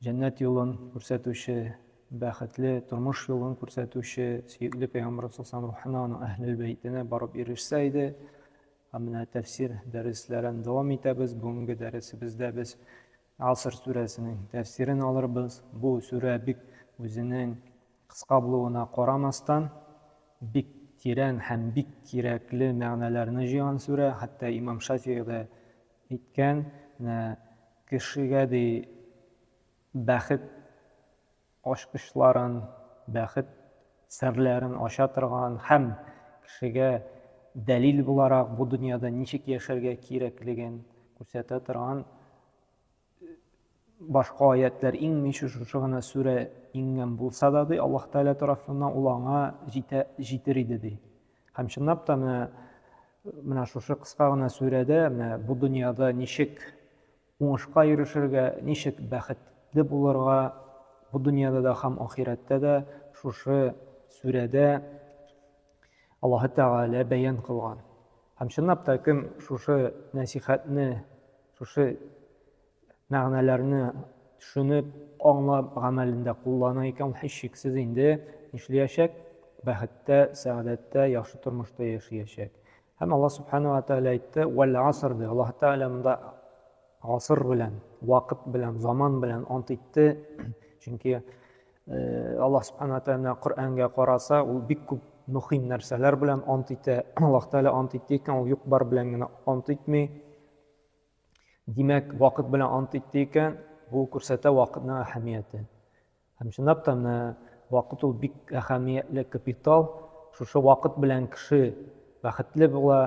Җәннәт юлын күрсәтүче, бәхетле тормыш юлын күрсәтүче сөекле пәйгамбәр саллаллаху рухына, аның әһлел бәйтенә барып ирешсә иде. Һәм менә тәфсир дәресләрен дәвам итәбез. Бүгенге дәресебездә без Аср сүрәсенең тәфсирен алырбыз. Бу сүрә бик үзенең кыска булуына карамастан, бик тирән һәм бик кирәкле мәгънәләрне җыйган сүрә. Хәтта Имам Шафигый дә Әйткән, нә, кешегә, ди, бәхет ачкычларын, бәхет серләрен ача торган һәм кешегә дәлил буларак бу дөньяда ничек яшәргә кирәклеген күрсәтә торган башка аятлар иңмичә шушы гына сүрә иңгән булса да ди аллаһ тәгалә тарафыннан ул аңа җитә җитер иде ди һәм чынлап та менә менә шушы кыска гына сүрәдә менә бу дөньяда ничек уңышка ирешергә ничек бәхетле булырга бу дөньяда да һәм ахирәттә дә шушы сүрәдә Аллаһы Тәгалә бәян кылган. Һәм чынлап та кем шушы нәсихәтне, шушы мәгънәләрне төшенеп, аңлап, гамәлендә куллана икән, ул һичшиксез инде нишләячәк? Бәхеттә, сәгадәттә, яхшы тормышта яшәячәк. Һәм Алла Субхану Аталя әйтте, «Вәл аср» ди. Аллаһ Тәгалә монда аср белән, вакыт белән, заман белән ант итте, чөнки Э, аллаһ субхана тәғәлә Коръәнгә караса, ул бик күп мөһим нәрсәләр белән ант итә. Аллаһ тәғәлә ант итте икән, ул юк бар белән генә ант итми. Димәк, вакыт белән ант итте икән, бу күрсәтә вакытның әһәмиятен. Һәм чынлап та менә вакыт ул бик әһәмиятле капитал. Шушы вакыт белән кеше бәхетле була,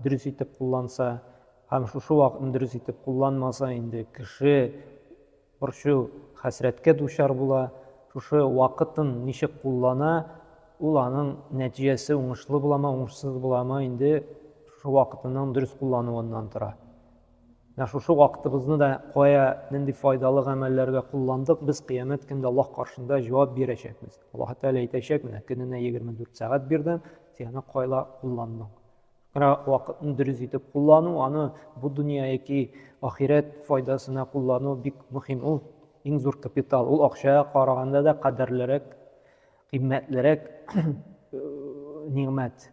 дөрес итеп кулланса, һәм шушы вакытны дөрес итеп кулланмаса, инде кеше борчу, хәсрәткә дучар була, шушы вакытын ничек куллана, ул аның нәтиҗәсе уңышлы буламы, уңышсыз буламы, инде шушы вакытының дөрес куллануыннан тора. Менә шушы вакытыбызны да кая, нинди файдалы гамәлләргә кулландык, без кыямәт көндә Аллаһ каршында җавап бирәчәкбез. Аллаһ Тәгалә әйтәчәк, менә көненә 24 сәгать бирдем, сине кайла кулландың? Менә вакытны дөрес итеп куллану, аны бу дөнья яки ахирәт файдасына куллану бик мөһим. Ул иң зур капитал. Ул акчага караганда да кадерлерәк, кыйммәтлерәк нигъмәт.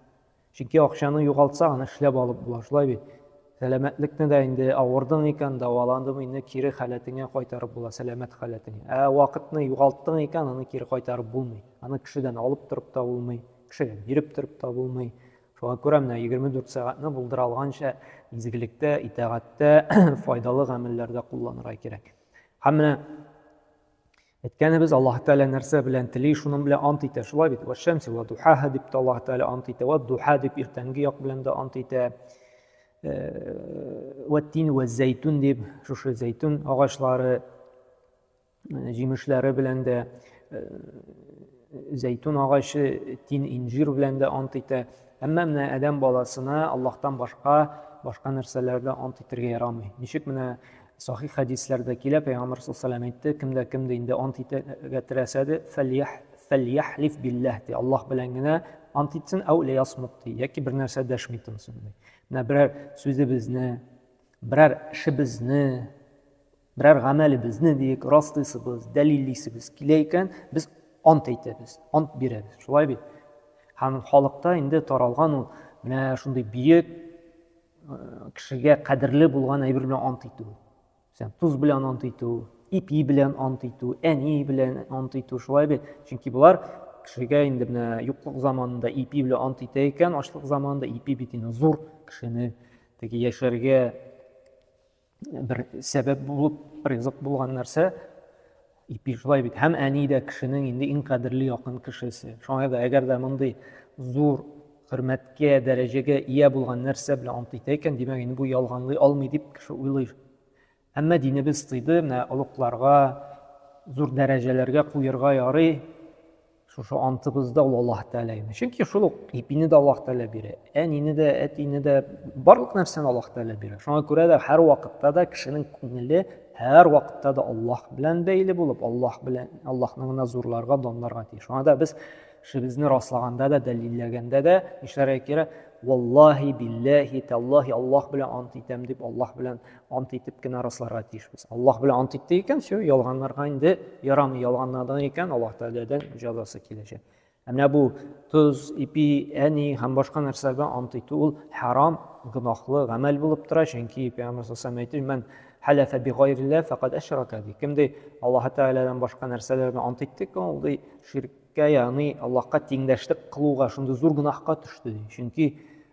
Чөнки акчаны югалтсаң, аны эшләп алып була, шулай бит. Сәламәтлекне дә инде авырдың икән, дәваландың, инде кире халәтеңә кайтарып була, сәламәт халәтеңә. Ә вакытны югалттың икән, аны кире кайтарып булмый. Аны кешедән алып торып та булмый, кешегә биреп торып та булмый. Шуңа күрә менә 24 сәгатьне булдыра алганча изгелектә, итагатьтә, файдалы гамәлләрдә кулланырга кирәк. Һәм менә әйткәнебез Аллаһ Тәгалә нәрсә белән тели, шуның белән ант итә. Шулай бит, вәшәмси ва духаһа дип тә Аллаһ Тәгалә ант итә, ва духа дип иртәнге як белән дә ант итә. Вәттин ва зәйтун дип, шушы зәйтун агачлары җимешләре белән дә, зәйтүн агачы, тин инжир белән дә ант итә. Әмма менә адәм баласына Аллаһтан башка башка нәрсәләрдә ант итәргә ярамый. Ничек менә сахих хәдисләрдә килә, пәйгамбәр саллаллаху әйтте, кемдә кемдә инде ант итәргә теләсә дә, фәлияхлиф билләһ ди. Аллаһ белән генә ант итсен, әү лиясмут ди. Яки бер нәрсә дәшми тынсын ди. Менә берәр сүзебезне, берәр эшебезне Берәр гамәле безне диек, раслыйсыбыз, дәлиллисебез килә икән, без ант әйтәбез, ант бирәбез. Шулай бит? Һәм халыкта инде таралган ул менә шундый биек э, кешегә кадерле булган әйбер белән ант итү. Сән туз белән ант итү, ипи белән ант итү, әни белән ант итү, шулай бит? Чөнки болар кешегә инде менә юклык заманында ипи белән ант итә икән, ачлык заманында ипи бит инде зур кешене теге яшәргә бер сәбәп булып ризык булган нәрсә ипи шулай бит һәм әни дә кешенең инде иң кадерле якын кешесе шуңа да әгәр дә мондый зур хөрмәткә дәрәҗәгә ия булган нәрсә белән ант итә икән димәк инде бу ялганлый алмый дип кеше уйлый әмма динебез тыйды менә олугларга зур дәрәҗәләргә куерга ярый Шушы антыбыз да ул Аллаһ Тәгалә генә. Чөнки шул ук ипине дә Аллаһ Тәгалә бирә, әнине дә, әтине дә, барлык нәрсәне Аллаһ Тәгалә бирә. Шуңа күрә дә һәр вакытта да кешенең күңеле һәр вакытта да Аллаһ белән бәйле булып, Аллаһ белән Аллаһны гына зурларга, данларга тиеш. Шуңа да без шебезне раслаганда да, дәлилләгәндә дә нишләргә кирәк? Валлаһи, билләһи, тәллаһи, Аллаһ белән ант итәм дип, Аллаһ белән ант итеп кенә расларга тиешбез аллаһ белән ант итте икән все ялганларга инде ярамый ялганладың икән аллаһ тәгаләдән җәзасы киләчәк ә менә бу тоз ипи әни һәм башка нәрсәләргә ант итү ул харам гөнаһлы гамәл булып тора чөнки пәйгамбәр саллаллаху әйтте мән хәләфә би гайриллә фәкат әшрака ди кем ди аллаһ тәгаләдән башка нәрсәләргә ант итте икән ул ди ширккә ягъни аллаһка тиңдәшлек кылуга шундый зур гөнаһка төште ди чөнки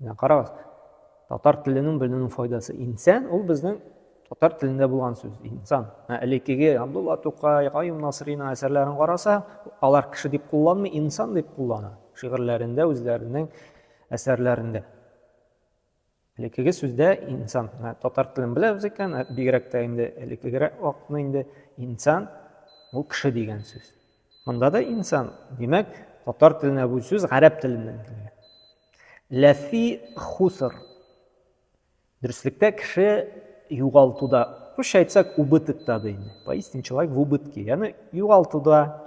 Менә карагыз, татар теленең белүнең файдасы. Инсан ул безнең татар телендә булган сүз, инсан. Ә элеккеге Абдулла Тукай, Каюм Насрина әсәрләрен караса, алар кеше дип кулланмый, инсан дип куллана. Шигырьләрендә, үзләренең әсәрләрендә. Элеккеге сүздә инсан, татар телен беләбез икән, бигрәк тә инде элеккегерәк вакытны инде инсан ул кеше дигән сүз. Монда да инсан, димәк, татар теленә бу сүз гарәп теленнән килгән. Ләфи хуср. Дөреслектә кеше югалтуда, русча әйтсәк, убытокта да инде. Поистине человек в убытке. Яны югалтуда.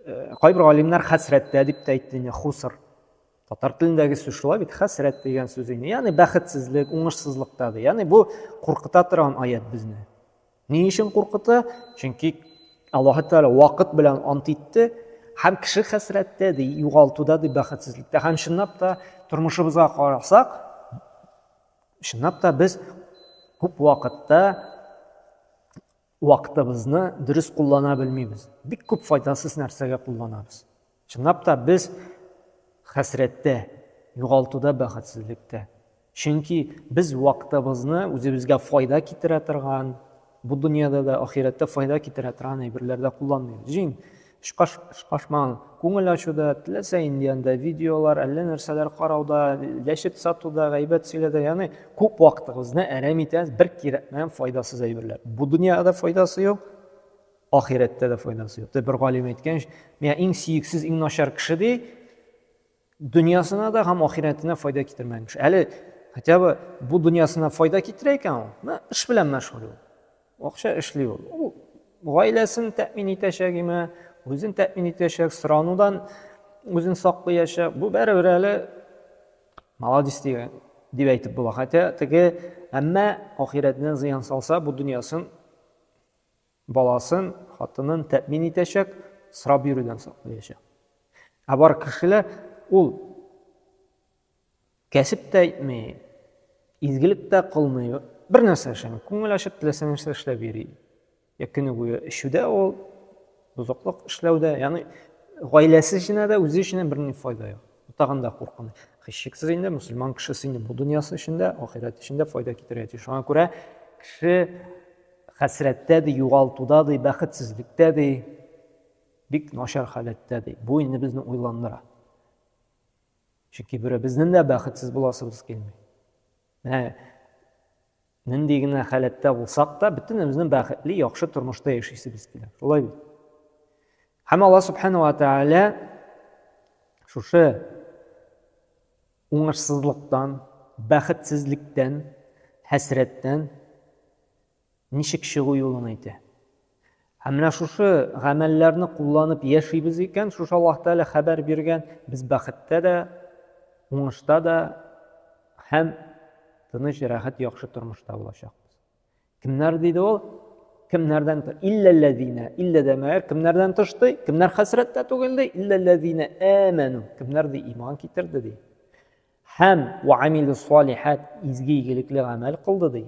Э, кайбер галимнәр хәсрәттә дип тә әйтте инде, хуср. Татар телендәге сүз шулай бит, хәсрәт дигән сүз инде. Яны бәхетсезлек, уңышсызлыкта да. Яны бу куркыта торган аят безне. Ни өчен куркыта? Чөнки Аллаһы Тәгалә вакыт белән ант итте, һәм кеше хәсрәттә ди, югалтуда ди, бәхетсезлектә. Һәм чынлап та тормышыбызга карасак, чынлап та без күп вакытта вакытыбызны дөрес куллана белмибез. Бик күп файдасыз нәрсәгә кулланабыз. Чынлап та без хәсрәттә, югалтуда, бәхетсезлектә. Чөнки без вакытыбызны үзебезгә файда китерә торган, бу дөньяда да, ахирәттә файда китерә торган әйберләрдә кулланмыйбыз. Җиң, шкашман, күңел ачуда, теләсә инде анда видеолар, әллә нәрсәләр карауда, ләшеп сатуда, гайбәт сөйләдә, ягъни күп вакытыбызны әрәм итәбез, бер кирәкмәгән файдасыз әйберләр. Бу дөньяда файдасы юк, Ахирәттә дә файдасы юк. Бер галим әйткәнч, миңа иң сөексез, иң начар кеше ди, дөньясына да һәм ахирәтенә файда китермәгән кеше. Әле хотя бы бу дөньясына файда китерә икән ул, мә эш белән мәшгуль ул. Акча эшли ул. Ул гаиләсен тәэмин итәчәк име, үзен тәэмин итәчәк, соранудан үзен саклыячак. Бу бәребер әле молодец дигән дип әйтеп була. Хотя теге әмма ахирәтенә зыян салса, бу дөньясын Баласын, хатынын тәэмин итәчәк, сорап йөрүдән саклаячак. Ә бар кешеләр ул кәсеп тә итми, изгелек тә кылмый, бер нәрсә эшләми, күңел ачып теләсә нәрсә эшләп йөри. Я көне буе эчүдә ул, бозыклык эшләүдә, ягъни гаиләсе эченә дә, үзе эченә берни файда юк. Тагын да куркыныч. Хищексез инде мусульман кешесе инде бу дөньясы өчен дә, ахирәт өчен дә файда китерә. Шуңа күрә кеше хәсрәттә ди, югалтуда ди, бәхетсезлектә ди, бик начар халәттә ди. Бу инде безне уйландыра. Чөнки бере безнең дә бәхетсез буласыбыз килми. Менә нинди генә халәттә булсак та, бөтенебезнең бәхетле, яхшы тормышта яшисебез килә. Шулай бит. Һәм Алла Субхану ва Тәгалә шушы уңышсызлыктан, бәхетсезлектән, хәсрәттән ничек чыгу юлын әйтә. Һәм менә шушы гамәлләрне кулланып яшибез икән, шушы Аллаһ Тәгалә хәбәр биргән, без бәхеттә дә, уңышта да һәм тыныч, рәхәт, яхшы тормышта булачакбыз. Кемнәр диде ул? Кемнәрдән тыш? Илләлләзина. Иллә дә мәгәр кемнәрдән тыш ди? Кемнәр хәсрәттә түгел ди? Илләлләзина әмәну. Кемнәр ди иман китерде ди? Һәм ва амилу салихат изге игелекле гамәл кылды ди.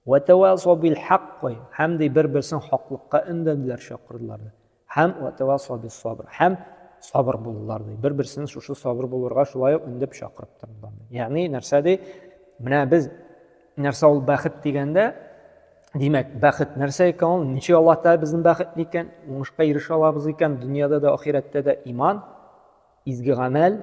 Ва тавасу бил хаккы. Һәм ди бер-берсен хаклыкка өндәделәр, чакырдылар. Һәм ватавасау бис-сабр. Һәм сабыр булдылар ди. Бер-берсен шушы сабыр булырга шулай ук үндеп чакырып тордылар. Ягъни нәрсә ди? Менә без нәрсә ул бәхет дигәндә, димәк, бәхет нәрсә икән ул? Ничек Аллаһ Тәгалә безнең бәхетле икән? Уңышка ирешә алабыз икән дөньяда да, ахирәттә дә иман, изге гамәл,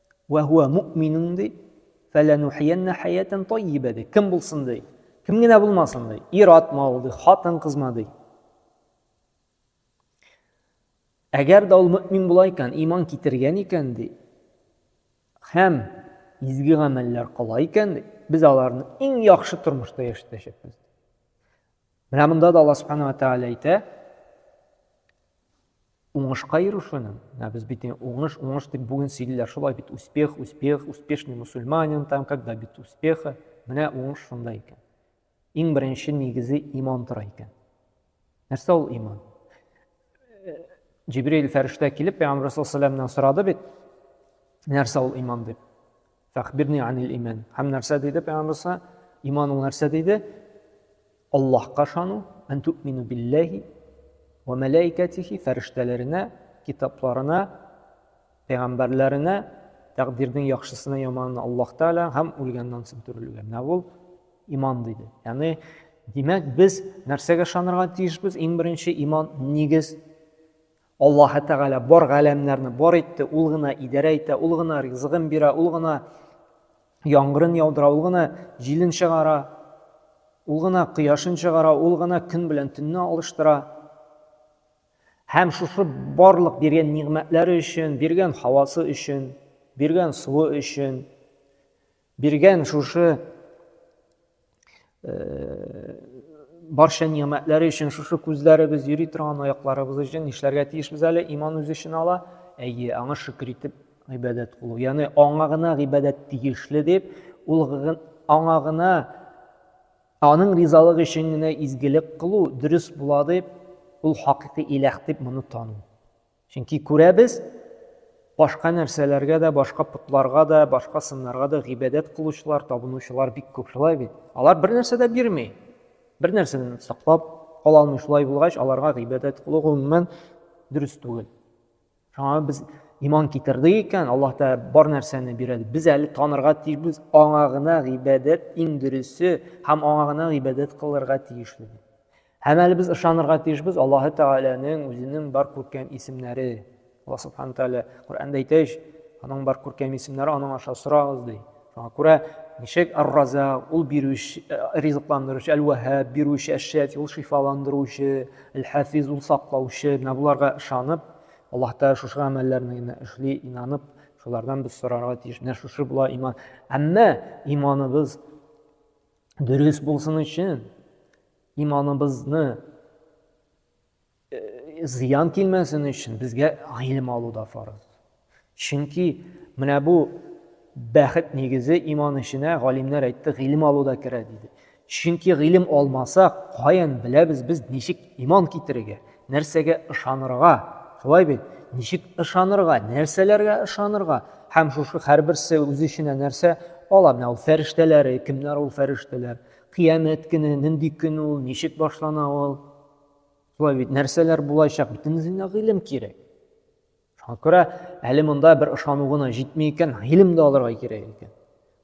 Вә һуә муъминун ди. Фәләнухияннә хәятән таййибә ди. Кем булсын ди? Кем генә булмасын ди? Ир-атмы ул ди, хатын-кызмы ди? Әгәр дә ул мөмин була икән, иман китергән икән ди. Һәм изге гамәлләр кыла икән ди, без аларны иң яхшы тормышта яшәтәчәкбез. Менә монда да Аллаһ Субхану ва Тааля әйтә, уңышка ирешүнең, ә без бит уңыш, уңыш дип бүген сөйлиләр, шулай бит успех, успех, успешный мусульманин, там как добиться успеха. Менә уңыш шунда икән. Иң беренче нигезе иман тора икән. Нәрсә ул иман? Җибрил фәрештә килеп, Пәйгамбер саллаллаху алейһи ва сорады бит, нәрсә ул иман дип. Фәхбирни анил иман. Һәм нәрсә диде пәйгамбәрсә? Иман ул нәрсә диде? Аллаһка ышану, ан тумину биллаһи ва мәлаикатихи, фәрештәләренә, китапларына, пәйгамбәрләренә, тәкъдирнең яхшысына, яманына Аллаһ Тәгалә һәм үлгәннән соң терелүгә. Менә ул иман диде. Ягъни димәк, без нәрсәгә ышанырга тиешбез? Иң беренче иман нигез Аллаһы Тәгалә бар галәмнәрне бар итте, ул гына идарә итә, ул гына ризыгын бирә, ул гына яңгырын яудыра, ул гына җилен чыгара, ул гына кояшын чыгара, ул гына көн белән төнне алыштыра. Һәм шушы барлык биргән нигъмәтләре өчен, биргән һавасы өчен, биргән суы өчен, Биргән шушы барча нигъмәтләре өчен шушы күзләребез йөри торган аякларыбыз өчен нишләргә тиешбез әле иман үз эшен ала әйе аңа шөкер итеп гыйбадәт кылу ягъни аңа гына гыйбадәт тиешле дип ул аңа гына аның ризалыгы өчен генә изгелек кылу дөрес була дип ул хакыйкый иләх дип моны тану Чөнки күрәбез, башка нәрсәләргә дә, башка потларга да, башка сыннарга да гыйбадәт кылучылар, табынучылар бик күп шулай бит. Алар бер нәрсә дә бирми. Бер нәрсәдән саклап кала алмый шулай булгач, аларга гыйбадәт кылу гомумән дөрес түгел. Шуңа без иман китердек икән, Аллаһ та бар нәрсәне бирә. Без әле танырга тиешбез, аңа гына гыйбадәт иң дөресе һәм аңа гына гыйбадәт кылырга тиешле. Һәм әле без ышанырга тиешбез Аллаһы Тәгаләнең үзенең бар күркәм исемнәре. Алла Субхану Тәгалә Коръәндә әйтә ич, аның бар күркәм исемнәре аның аша сорагыз ди. Шуңа күрә ничек Ар-Раза, ул бирүче, э, ризыкландыручы, Әл-Ваһаб, бирүче, Әш-Шафи, ул шифаландыручы, Әл-Хафиз, ул саклаучы. Менә буларга ышанып, Аллаһ Тәгалә шушы гамәлләрне генә эшли, инанып, шулардан без сорарга тиеш. Менә шушы була иман. Әмма иманыбыз дөрес булсын өчен, Иманыбызны зыян килмәсен өчен безгә гыйлем алу да фарыз. Чөнки менә бу бәхет нигезе иман эшенә галимнәр әйтте, гыйлем алу да керә диде. Чөнки гыйлем алмасак, каян беләбез без ничек иман китерергә, нәрсәгә ышанырга? Шулай бит? Ничек ышанырга, нәрсәләргә ышанырга? Һәм шушы һәрберсе үз эченә нәрсә ала? Менә ул фәрештәләре, кемнәр ул фәрештәләр? Кыямәт көне, нинди көн ул, ничек башлана ул? Шулай бит, нәрсәләр булачак? Бөтенесен дә гыйлем кирәк. Шуңа күрә әле монда бер ышану гына җитми икән, гыйлем дә алырга кирәк икән.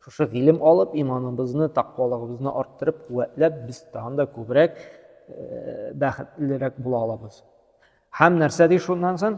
Шушы гыйлем алып, иманыбызны, тәкъвалыгыбызны арттырып, куәтләп, без тагын да күбрәк э, бәхетлерәк була алабыз. Һәм нәрсә ди шуннан соң?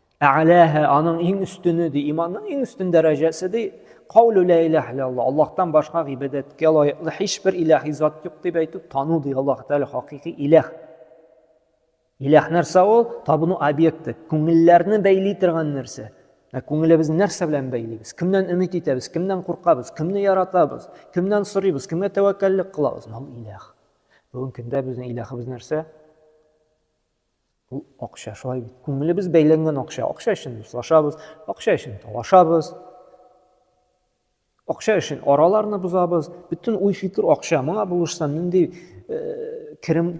Ә'ләһә, аның иң өстене, ди, иманның иң өстен дәрәҗәсе, ди, каулу лә иләһ илә Аллах, Аллахтан башка гибәдәткә лаеклы һичбер иләһи зат юк дип әйтү, тану, ди, Аллаһ Тәгалә хакыйкый иләһ. Иләһ нәрсә ул? Табыну объекты, күңелләрне бәйли торган нәрсә. Ә күңелебезне нәрсә белән бәйлибез? Кемнән өмет итәбез? Кемнән куркабыз? Кемне яратабыз? Кемнән сорыйбыз? Кемгә тәвәккәллек кылабыз? Мал иләһ. Бүгенге көндә безнең иләһыбыз нәрсә? Бу акча шулай бит. Күңелебез бәйләнгән акча. Акча өчен дуслашабыз, акча өчен талашабыз. Акча өчен араларны бозабыз. Бөтен уй-фикер акча. Моңа булышсам, нинди э, керем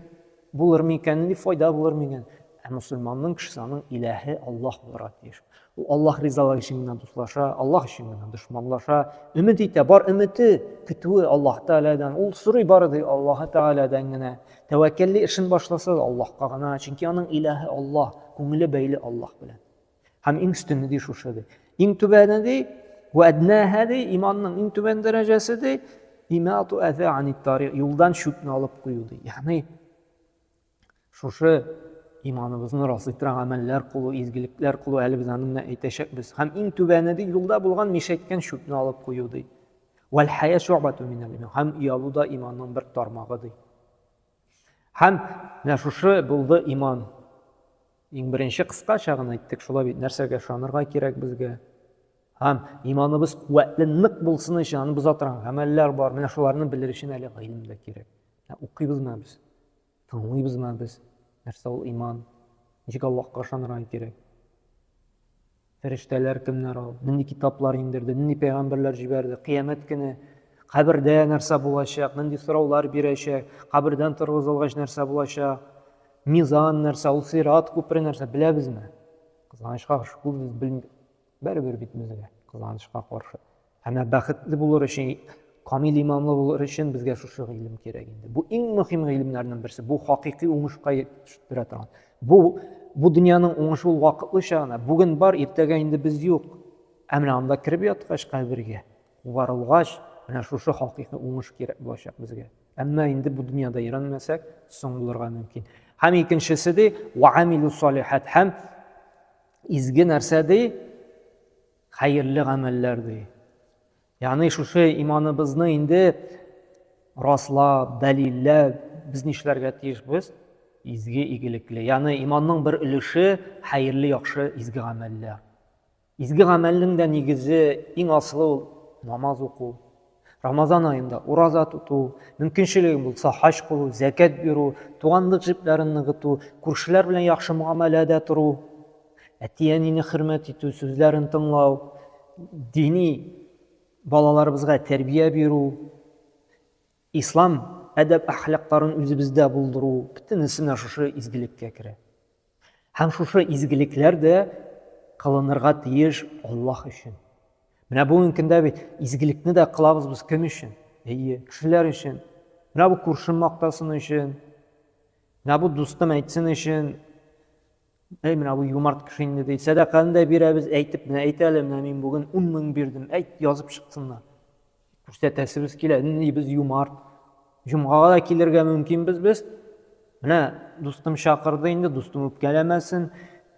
булыр микән, нинди файда булыр микән? Ә мусульманның кешесе аның иләһе Аллаһ булырга тиеш. Ул Аллаһ ризалыгы өчен генә дуслаша, Аллаһ өчен генә дошманлаша, өмет итә, бар өмете, көтүе Аллаһ Тәгаләдән. Ул сорый бары тик Аллаһ Тәгаләдән генә. Тәвәккәлли эшен башласа да Аллаһка гына, чөнки аның илаһе Аллаһ, күңеле бәйле Аллаһ белән. Һәм иң өстене ди шушы ди. Иң түбәне ди, вә әднәһә ди, иманның иң түбән дәрәҗәсе ди, имату әзә ани тарих, юлдан чүпне алып кую ди. Ягъни Шушы иманыбызны расый торган гамәлләр кылу, изгелекләр кылу, әле без аны менә әйтәчәкбез. Һәм иң түбәне ди, юлда булган мишәйткән чүпне алып кую ди. Вәл хая шугбату минәл иман. Һәм оялу да иманның бер тармагы ди. Һәм менә шушы булды иман. Иң беренче кыскача гына әйттек, шулай бит, нәрсәгә ышанырга кирәк безгә? Һәм иманыбыз куәтле, нык булсын өчен аны боза торган гамәлләр бар. Менә шуларны белер өчен әле гыйлем дә кирәк. Укыйбызмы без? Аңлыйбызмы без, нәрсә ул иман? Ничек Аллаһка ышанырга кирәк? Фәрештәләр кемнәр ул? Нинди китаплар иңдерде? Нинди пәйгамбәрләр җибәрде? Кыямәт көне кабердә нәрсә булачак, нинди сораулар бирәчәк, кабердән торгызылгач нәрсә булачак, мизан нәрсә, ул сират күпере нәрсә, беләбезме? Кызганычка, шул без белмибез. Бәребер бит безгә, кызганычка каршы. Ә менә бәхетле булыр өчен, камил иманлы булыр өчен безгә шушы гыйлем кирәк инде. Бу иң мөһим гыйлемнәрнең берсе. Бу хакыйкый уңышка төштерә торган. Бу бу дөньяның уңышы ул вакытлыча гына. Бүген бар, иртәгә инде без юк. Ә менә анда кереп яткач кабергә, кубарылгач, менә шушы хакыйкый уңыш кирәк булачак безгә. Әмма инде бу дөньяда өйрәнмәсәк, соң булырга мөмкин. Һәм икенчесе ди, ва амилу салихат һәм Изге нәрсә ди? Хәерле гамәлләр ди. Ягъни шушы иманыбызны инде раслап, дәлилләп, без нишләргә тиешбез? Изге, игелекле. Ягъни иманның бер өлеше хәерле, яхшы, изге гамәлләр. Изге гамәлнең дә нигезе, иң асылы ул намаз уку. Рамазан аенда ураза тоту, мөмкинчелегең булса хаҗ кылу, зәкәт бирү, туганлык җепләрен ныгыту, күршеләр белән яхшы муамәләдә тору, әти-әнине хөрмәт итү, сүзләрен тыңлау, дини балаларыбызга тәрбия бирү, ислам әдәп-әхлакларын үзебездә булдыру, бөтенесе менә шушы изгелеккә керә. Һәм шушы изгелекләр дә кылынырга тиеш Аллаһ өчен. Менә бүгенге көндә бит изгелекне дә кылабыз без кем өчен? Әйе, кешеләр өчен. Менә бу күршем мактасын өчен. Менә бу дустым әйтсен өчен. Әй, менә бу юмарт кеше инде ди. Сәдаканы да бирәбез, әйтеп, менә әйт әле, менә мин бүген 10 мең бирдем. Әйт, язып чыксыннар. күрсәтәсебез килә ни без юмарт җомгага да килергә мөмкинбез без менә дустым чакырды инде дустым үпкәләмәсен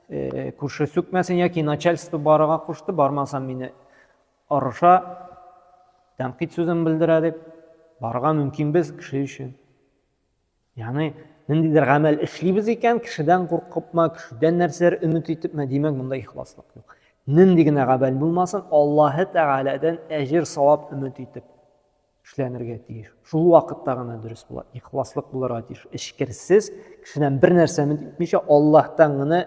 э, күрше сүкмәсен яки начальство барырга кушты бармасам мине орыша тәнкыйть сүзен белдерә дип барырга мөмкинбез кеше өчен Яны, ниндидер гамәл эшлибез икән, кешедән куркыпмы, кешедән нәрсәләр өмет итепме, димәк, монда ихласлык юк. Нинди генә гамәл булмасын, Аллаһы Тәгаләдән әҗер, савап өмет итеп эшләнергә тиеш. Шул вакытта гына дөрес була, ихласлык булырга тиеш. Эчкерсез, кешедән бер нәрсә өмет итмичә, Аллаһтан гына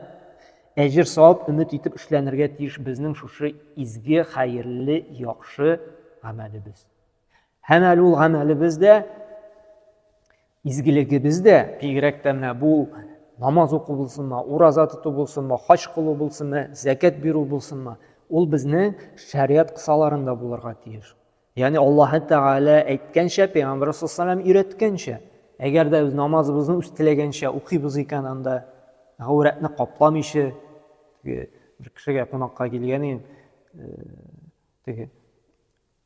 әҗер, савап өмет итеп эшләнергә тиеш безнең шушы изге, хәерле, яхшы гамәлебез. Һәм әле ул гамәлебез дә, изгелегебез дә, бигрәк тә менә бу намаз уку булсынмы, ураза тоту булсынмы, хаҗ кылу булсынмы, зәкәт бирү булсынмы, ул безнең шәригать кысаларында булырга тиеш. Ягъни Аллаһ Тәгалә әйткәнчә, Пәйгамбәр саллаллаху өйрәткәнчә, әгәр дә без намазыбызны үз теләгәнчә укыйбыз икән анда, гаурәтне капламыйча, теге бер кешегә кунакка килгән идем, э, теге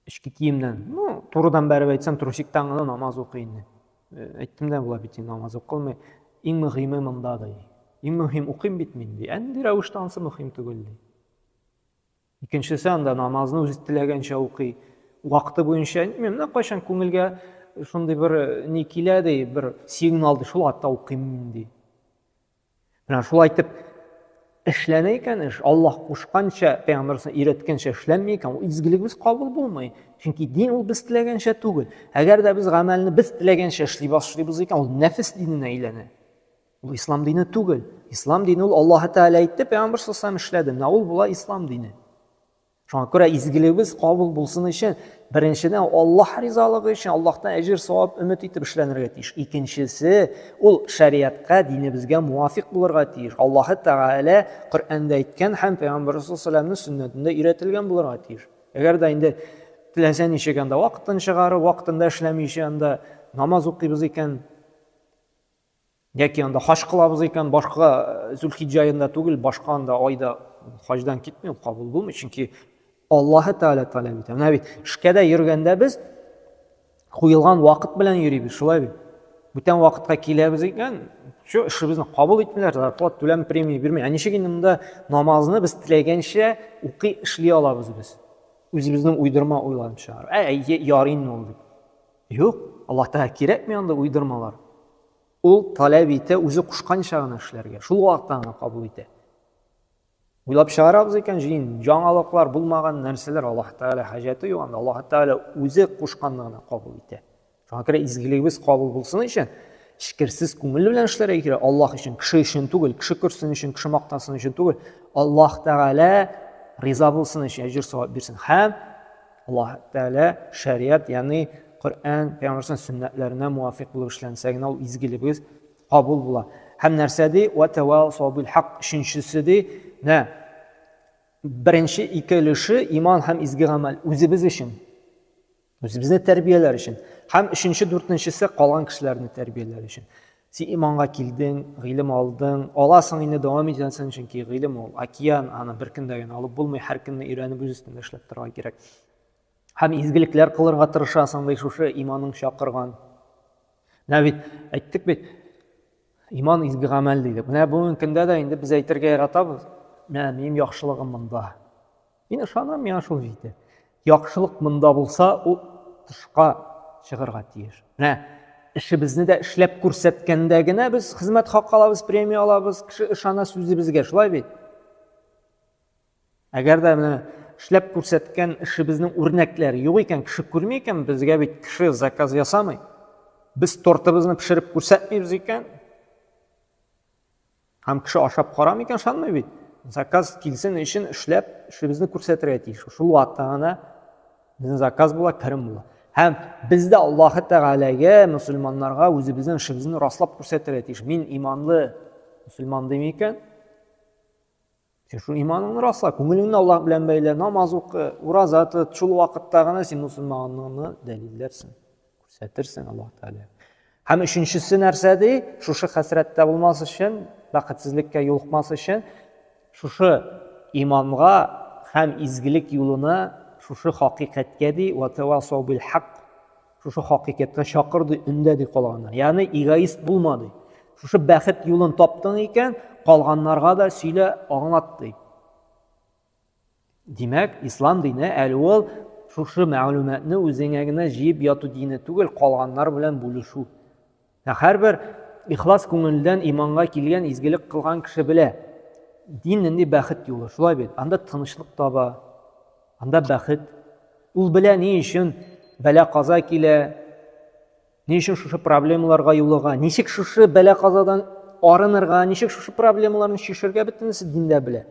Эчке киемнән, ну, турыдан бәреп әйтсәм, трусиктан гына намаз укый инде. Э, әйттем дә була бит инде намаз укылмый. Иң мөһиме монда ди. Иң мөһим укыйм бит мин ди. Әнди рәвештә ансы мөһим түгел ди. Икенчесе анда намазны үзе теләгәнчә укый. Вакыты буенча, менә кайчан күңелгә шундый бер э, ни килә ди, бер сигнал ди, шул атта укыйм ди. Менә шулай итеп эшләнә икән эш, Аллаһ кушканча, пәйгамбәрсен өйрәткәнчә эшләнми икән, ул изгелегебез кабул булмый. Чөнки дин ул без теләгәнчә түгел. Әгәр дә без гамәлне без теләгәнчә эшли башлыйбыз икән, ул нәфес диненә әйләнә. Ул ислам дине түгел. Ислам дине ул Аллаһ Тәгалә әйтте, пәйгамбәр саллаллаху эшләде. Менә ул була ислам дине. Шуңа күрә изгелегебез кабул булсын өчен, беренчедән Аллаһ ризалыгы өчен Аллаһтан әҗер савап өмет итеп эшләнергә тиеш. Икенчесе, ул шәрияткә, динебезгә муафик булырга тиеш. Аллаһ Тәгалә Коръәндә әйткән һәм Пәйгамбәр саллаллаһу сөннәтендә өйрәтелгән булырга тиеш. Әгәр дә инде теләсә ничек анда вакытын чыгарып, вакытында эшләмичә анда намаз укыйбыз икән, Яки анда хаҗ кылабыз икән, башка э, Зулхиҗҗә аенда түгел, башка анда айда хаҗдан китми, ул кабул булмый, чөнки Аллаһы Тәгалә таләп итә. Менә бит, эшкәдә йөргәндә без куелган вакыт белән йөрибез, шулай бит. Бүтән вакытка киләбез икән, шу эшебезне кабул итмиләр, зарплат түләм премия бирми. Ә ничек инде монда намазны без теләгәнчә укый эшли алабыз без? Үзебезнең уйдырма уйланып чыгар. Ә, ярый инде ул дип. Юк, Аллаһ Тәгалә кирәкми андый уйдырмалар. Ул таләп итә, үзе кушканча гына эшләргә, шул вакытта гына кабул итә. Уйлап чыгарабыз икән, җин, яңалыклар булмаган нәрсәләр Аллаһ Тәгалә хаҗәте юк анда. Аллаһ Тәгалә үзе кушканны гына кабул итә. Шуңа күрә изгелегебез кабул булсын өчен эчкерсез күңел белән эшләргә кирәк. Аллаһ өчен, кеше өчен түгел, кеше күрсен өчен, кеше мактасын өчен түгел. Аллаһ Тәгалә риза булсын өчен әҗер савап бирсен. Һәм Аллаһ Тәгалә шәригать, ягъни Коръән, Пәйгамбәрнең сөннәтләренә муафик булып эшләнсә генә ул изгелегебез кабул була. Һәм нәрсә ди? Ва тавасау бил хак. Өченчесе ди, нә беренче ике өлеше иман һәм изге гамәл үзебез өчен. Үзебезне тәрбияләр өчен. Һәм өченче, дүртенчесе калган кешеләрне тәрбияләр өчен. Син иманга килдең, гыйлем алдың, аласың инде, дәвам итәсең, чөнки гыйлем ул океан, аны бер көндә генә алып булмый, һәр көнне өйрәнеп үз өстендә эшләп торырга кирәк. Һәм изгелекләр кылырга тырышасың, ди шушы иманың чакырган. Менә бит әйттек бит, иман изге гамәл дидек. Менә бүгенге көндә дә инде без әйтергә яратабыз, менә минем яхшылыгым монда. Мин ышанам, миңа шул җитә. Яхшылык монда булса, ул тышка чыгарга тиеш. Менә эшебезне дә эшләп күрсәткәндә генә без хезмәт хакы алабыз, премия алабыз, кеше ышана сүзебезгә, шулай бит? Әгәр дә менә эшләп күрсәткән эшебезнең үрнәкләре юк икән, кеше күрми икән, безгә бит кеше заказ ясамый. Без тортыбызны пешереп күрсәтмибез икән, Һәм кеше ашап карамый икән, ышанмый бит. Заказ килсен өчен эшләп, эшебезне күрсәтергә тиеш. Шул вакытта гына безнең заказ була, керем була. Һәм без дә Аллаһ Тәгаләгә, мусульманнарга үзебезнең эшебезне раслап күрсәтергә тиеш. Мин иманлы мусульман дим икән, Син шул иманыңны расла, күңелеңне Аллаһ белән бәйлә, намаз укы, ураза тот, шул вакытта гына син мусульманлыгыңны дәлилләрсең, күрсәтерсең Аллаһ Тәгалә. Һәм өченчесе нәрсә ди? Шушы хәсрәттә булмас өчен, бәхетсезлеккә юлыкмас өчен, шушы иманга һәм изгелек юлына, шушы хакыйкатькә ди, ватавасау бил хак, Шушы хакыйкатькә чакырды, өндәде калганнар. Ягъни эгоист булма ди. Шушы бәхет юлын таптың икән, калганнарга да сөйлә, аңлат ди. Димәк, ислам дине әле ул шушы мәгълүматны үзеңә генә җыеп яту дине түгел, калганнар белән бүлешү. Ә һәрбер ихлас күңелдән иманга килгән, изгелек кылган кеше белә, дин нинди бәхет юлы, шулай бит. Анда тынычлык таба, анда бәхет. Ул белә ни өчен бәла-каза килә, ни өчен шушы проблемаларга юлыга, ничек шушы бәла-казадан арынырга, ничек шушы проблемаларны чишергә бөтенесе диндә белә.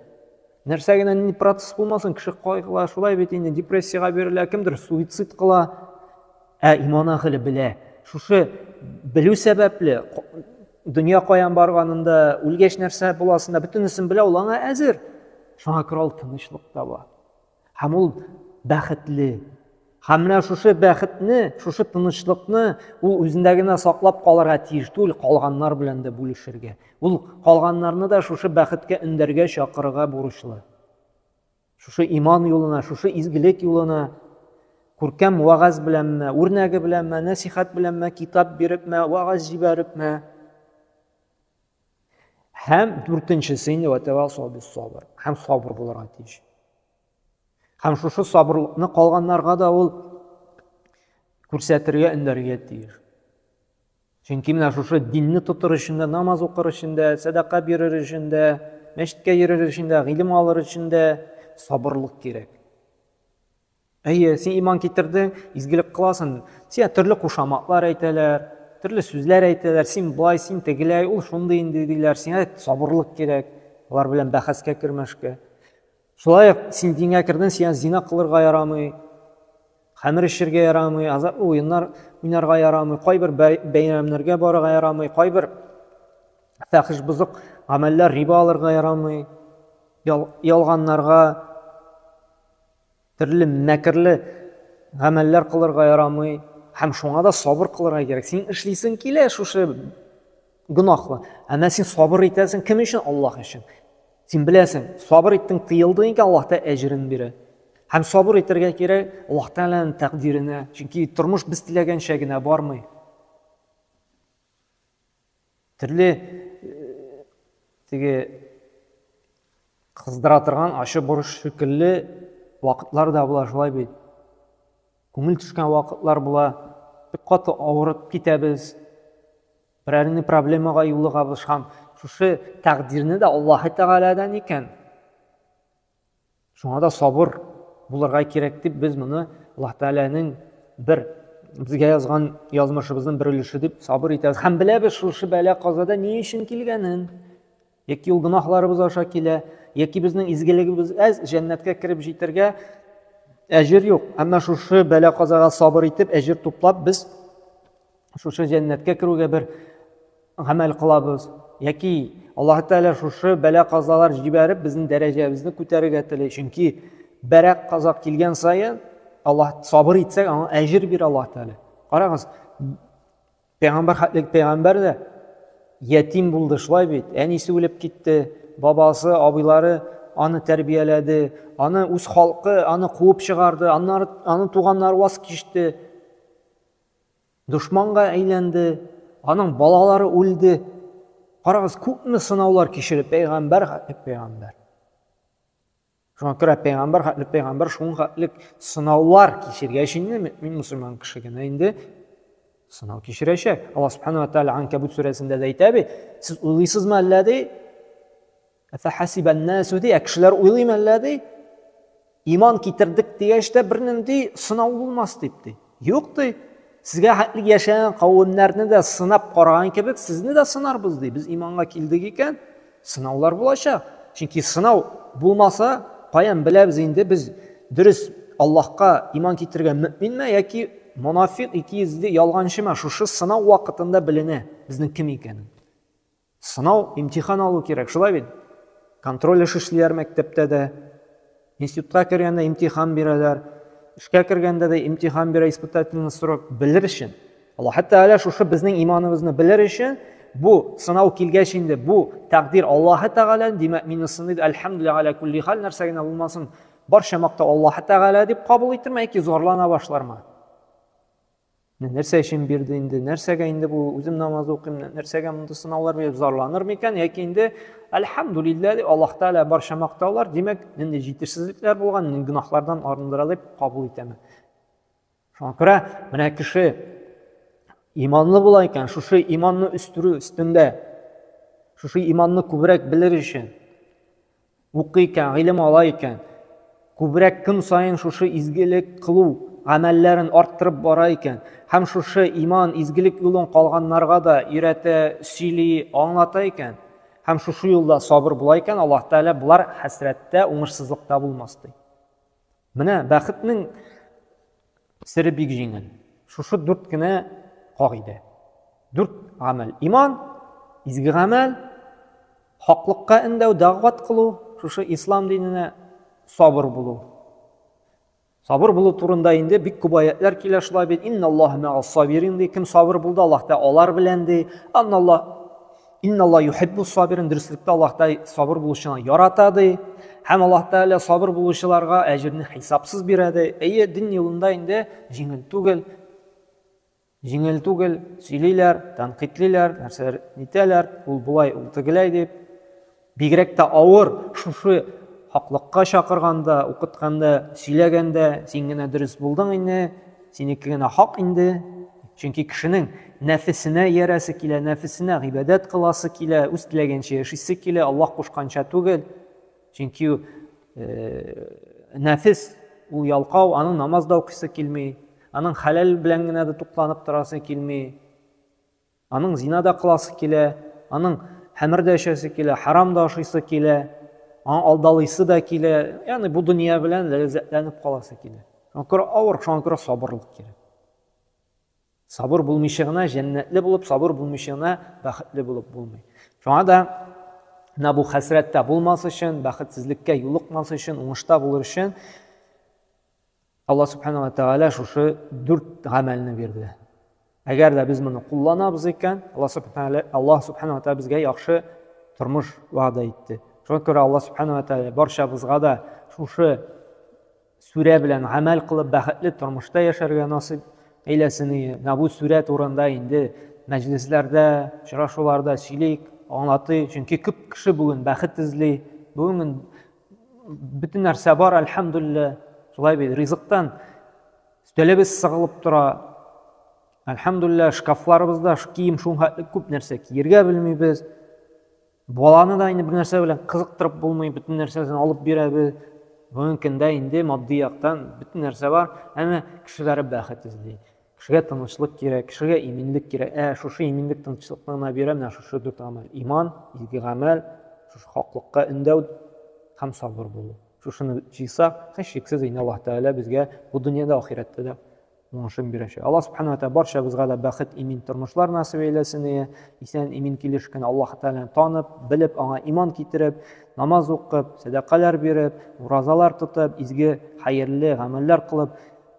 Нәрсә генә нинди процесс булмасын, кеше кайгыла, шулай бит инде депрессиягә бирелә, кемдер суицид кыла, Ә иман әһеле белә. Шушы белү сәбәпле, дөнья каян барганын да, үлгәч нәрсә буласын да, бөтенесен белә, ул аңа әзер. Шуңа күрә ул тынычлык таба. Һәм ул бәхетле. Һәм менә шушы бәхетне, шушы тынычлыкны ул үзендә генә саклап калырга тиеш түгел, калганнар белән дә бүлешергә. Ул калганнарны да шушы бәхеткә өндәргә, чакырырга бурычлы. Шушы иман юлына, шушы изгелек юлына күркәм вагаз беләнме, үрнәге беләнме, нәсихат беләнме, китап бирепме, вагаз җибәрепме? Һәм дүртенчесе инде ватавасау бис сабыр. Һәм сабыр булырга тиеш. Һәм шушы сабырлыкны калганнарга да ул күрсәтергә, өндәргә тиеш. Чөнки менә шушы динне тотыр өчен дә, намаз укыр өчен дә, сәдака бирер өчен дә, мәчеткә йөрер өчен дә, гыйлем алыр өчен дә сабырлык кирәк. Әйе, син иман китердең, изгелек кыласың, сиңа төрле кушаматлар әйтәләр, төрле сүзләр әйтәләр, син болай, син тегеләй, ул шундый инде диләр, сиңа сабырлык кирәк, алар белән бәхәскә кермәшкә. Шулай ук син дингә кердең, сиңа зина кылырга ярамый, хәмер эчергә ярамый, азаплы уеннар уйнарга ярамый, кайбер бәйрәмнәргә барырга ярамый, кайбер фәхиш бозык гамәлләр риба алырга ярамый, ялганнарга, төрле мәкерле гамәлләр кылырга ярамый һәм шуңа да сабыр кылырга кирәк. Син эшлисең килә шушы Гөнаһлы. Ә менә син сабыр итәсең, кем өчен? Аллаһ өчен. Син беләсең, сабыр иттең, тыелдың икән, Аллаһ та әҗерен бирә. Һәм сабыр итәргә кирәк Аллаһ Тәгаләнең тәкъдиренә, чөнки тормыш без теләгәнчә генә бармый. Төрле э, теге кыздыра торган ачы борыш шикелле вакытлар да була шулай бит. Күңел төшкән вакытлар була, бик каты авырып китәбез, берәр ни проблемага юлыгабыз һәм шушы тәкъдирне дә Аллаһы Тәгаләдән икән. Шуңа да сабыр булырга кирәк дип без моны Аллаһ Тәгаләнең бер безгә язган язмышыбызның бер өлеше дип сабыр итәбез һәм беләбез шушы бәла казада ни өчен килгәнен. Яки ул гөнаһларыбыз аша килә, яки безнең изгелегебез әз, җәннәткә кереп җитәргә әҗер юк. Әмма шушы бәла казага сабыр итеп, әҗер туплап без шушы җәннәткә керүгә бер гамәл кылабыз. Яки Аллаһ Тәгалә шушы бәла казалар җибәреп безнең дәрәҗәбезне күтәрергә тели. Чөнки бәрәк каза килгән саен Аллаһ сабыр итсәк, аңа әҗер бирә Аллаһ Тәгалә. Карагыз, Пәйгамбәр хәтлек пәйгамбәр дә ятим булды, шулай бит. Әнисе үлеп китте, бабасы, абыйлары аны тәрбияләде, аны үз халкы аны куып чыгарды, аннары аны туганнар ваз кичте. Дошманга әйләнде, аның балалары үлде. Карагыз, күпме сынаулар кичереп пәйгамбәр хәтлек пәйгамбәр. Шуңа күрә пәйгамбәр хәтле пәйгамбәр шуңа хәтлек сынаулар кичергәч инде мөмин мусульман кеше генә инде сынау кичерәчәк. Алла субхана ва тааля Анкабут сүрәсендә дә әйтә бит, сез уйлыйсызмы әллә ди? Әфәхәсибәннәсү ди, ә кешеләр уйлыймы әллә ди? Иман китердек дигәч тә бернинди сынау булмас дип ди. Юк ди, сезгә хәтле яшәгән кавемнәрне дә сынап караган кебек, сезне дә сынарбыз ди. Без иманга килдек икән, сынаулар булачак. Чөнки сынау булмаса, каян беләбез инде без дөрес Аллаһка иман китергән мөминме яки монафик, икейөзле, ялганчымы? Шушы сынау вакытында беленә безнең кем икәнен. Сынау, имтихан алу кирәк, шулай бит? Контроль эш эшлиләр мәктәптә дә. Институтка кергәндә имтихан бирәләр. Эшкә кергәндә дә имтихан бирә испытательный срок белер өчен. Аллаһ Тәгалә шушы безнең иманыбызны белер өчен бу сынау килгәч инде бу тәкъдир Аллаһ Тәгалә, димәк, мине сыный, әлхәмдүлилләһ аля кулли хал, нәрсә генә булмасын, барча мактау Аллаһ Тәгалә дип кабул итерме яки зарлана башлармы? нәрсә өчен бирде инде нәрсәгә инде бу үзем намаз укыйм нәрсәгә мондый сынаулар биреп зарланыр микән яки инде әлхәмдулилла дип аллаһ тәала барча мактаулар димәк нинди җитешсезлекләр булган нинди гөнаһлардан арындыра дип кабул итәме шуңа күрә менә кеше иманлы була икән шушы иманны үстерү өстендә шушы иманны күбрәк белер өчен Укый икән, гыйлем ала икән, күбрәк көн саен шушы изгелек кылу гамәлләрен арттырып бара икән һәм шушы иман, изгелек юлын калганнарга да өйрәтә, сөйли, аңлата икән һәм шушы юлда сабыр була икән, Аллаһ Тәгалә болар хәсрәттә, уңышсызлыкта булмас ди. Менә бәхетнең Сере бик җиңел. Шушы дүрт кенә кагыйдә. Дүрт гамәл. Иман, изге гамәл, хаклыкка эндәү, дәгъват кылу, шушы ислам диненә сабыр булу. Сабыр булу турында инде бик күп аятлар килә шулай бит. Инналлаһа мәгас сабирин ди. Кем сабыр булды, Аллаһ та алар белән ди. Анналлаһ Инналла юхиббу сабирин дөреслектә Аллаһ Тәгалә сабыр булучыны ярата ди. Һәм Аллаһ Тәгалә сабыр булучыларга әҗерне хисапсыз бирә ди. Әйе, дин юлында инде җиңел түгел. Җиңел түгел, сөйлиләр, тәнкыйтьлиләр, нәрсәләр нитәләр, ул болай, ул тегеләй дип. Бигрәк тә авыр шушы хаклыкка чакырганда, укытканда, сөйләгәндә, син генә дөрес булдың инде, синеке генә хак инде. Чөнки кешенең нәфесенә иярәсе килә, нәфесенә гыйбадәт кыласы килә, үз теләгенчә яшисе килә, Аллаһ кушканча түгел. Чөнки нәфес ул ялкау, аның намаз да укысы килми, аның хәләл белән генә дә тукланып торасы килми. Аның зина да кыласы килә, аның хәмер дә эчәсе килә, харам да ашыйсы килә, аңа алдалыйсы да килә. Ягъни бу дөнья белән ләззәтләнеп каласы килә. Шуңа күрә авыр, шуңа күрә сабырлык кирәк. Сабыр булмыйча гына җәннәтле булып, сабыр булмыйча гына бәхетле булып булмый. Шуңа да менә бу хәсрәттә булмас өчен, бәхетсезлеккә юлыкмас өчен, уңышта булыр өчен Алла Субхана ва Тәгалә шушы дүрт гамәлне бирде. Әгәр дә без моны кулланабыз икән, Алла Субхана Алла Субхана ва Тәгалә безгә яхшы тормыш вәгъдә итте. Шуңа күрә Алла Субхана ва Тәгалә барчабызга да шушы сүрә белән гамәл кылып бәхетле тормышта яшәргә насыйп әйләсен. Менә бу сүрә турында инде мәҗлесләрдә, очрашуларда сөйлик, аңлатыйк, чөнки күп кеше бүген бәхет эзли. Бүген Бөтен нәрсә бар, әлхәмдүлиллә. Шулай бит, ризыктан өстәлебез сыгылып тора. Әлхәмдүлиллә, шкафларыбызда кием шунхатлы күп нәрсә киергә белмибез. Баланы да инде бер нәрсә белән кызыктырып булмый, бөтен нәрсәсен алып бирәбез. Бүгенге көндә инде матди яктан бөтен нәрсә бар, әмма кешеләре бәхет эзли. Кешегә тынычлык кирәк, кешегә иминлек кирәк. Ә шушы иминлек тынычлыкны гына бирә менә шушы дүрт гамәл. Иман, изге гамәл, шушы хаклыкка өндәү һәм сабыр булу. Шушыны җыйсак, һичшиксез инде Аллаһ Тәгалә безгә бу дөньяда, ахирәттә дә уңышын бирәчәк. Аллаһ Субхану Тәгалә барчабызга да бәхет, имин тормышлар насыйп әйләсен. Исән, имин килеш кенә Аллаһ Тәгаләне танып, белеп, аңа иман китереп, намаз укып, сәдакалар биреп, уразалар тотып, изге, хәерле гамәлләр кылып,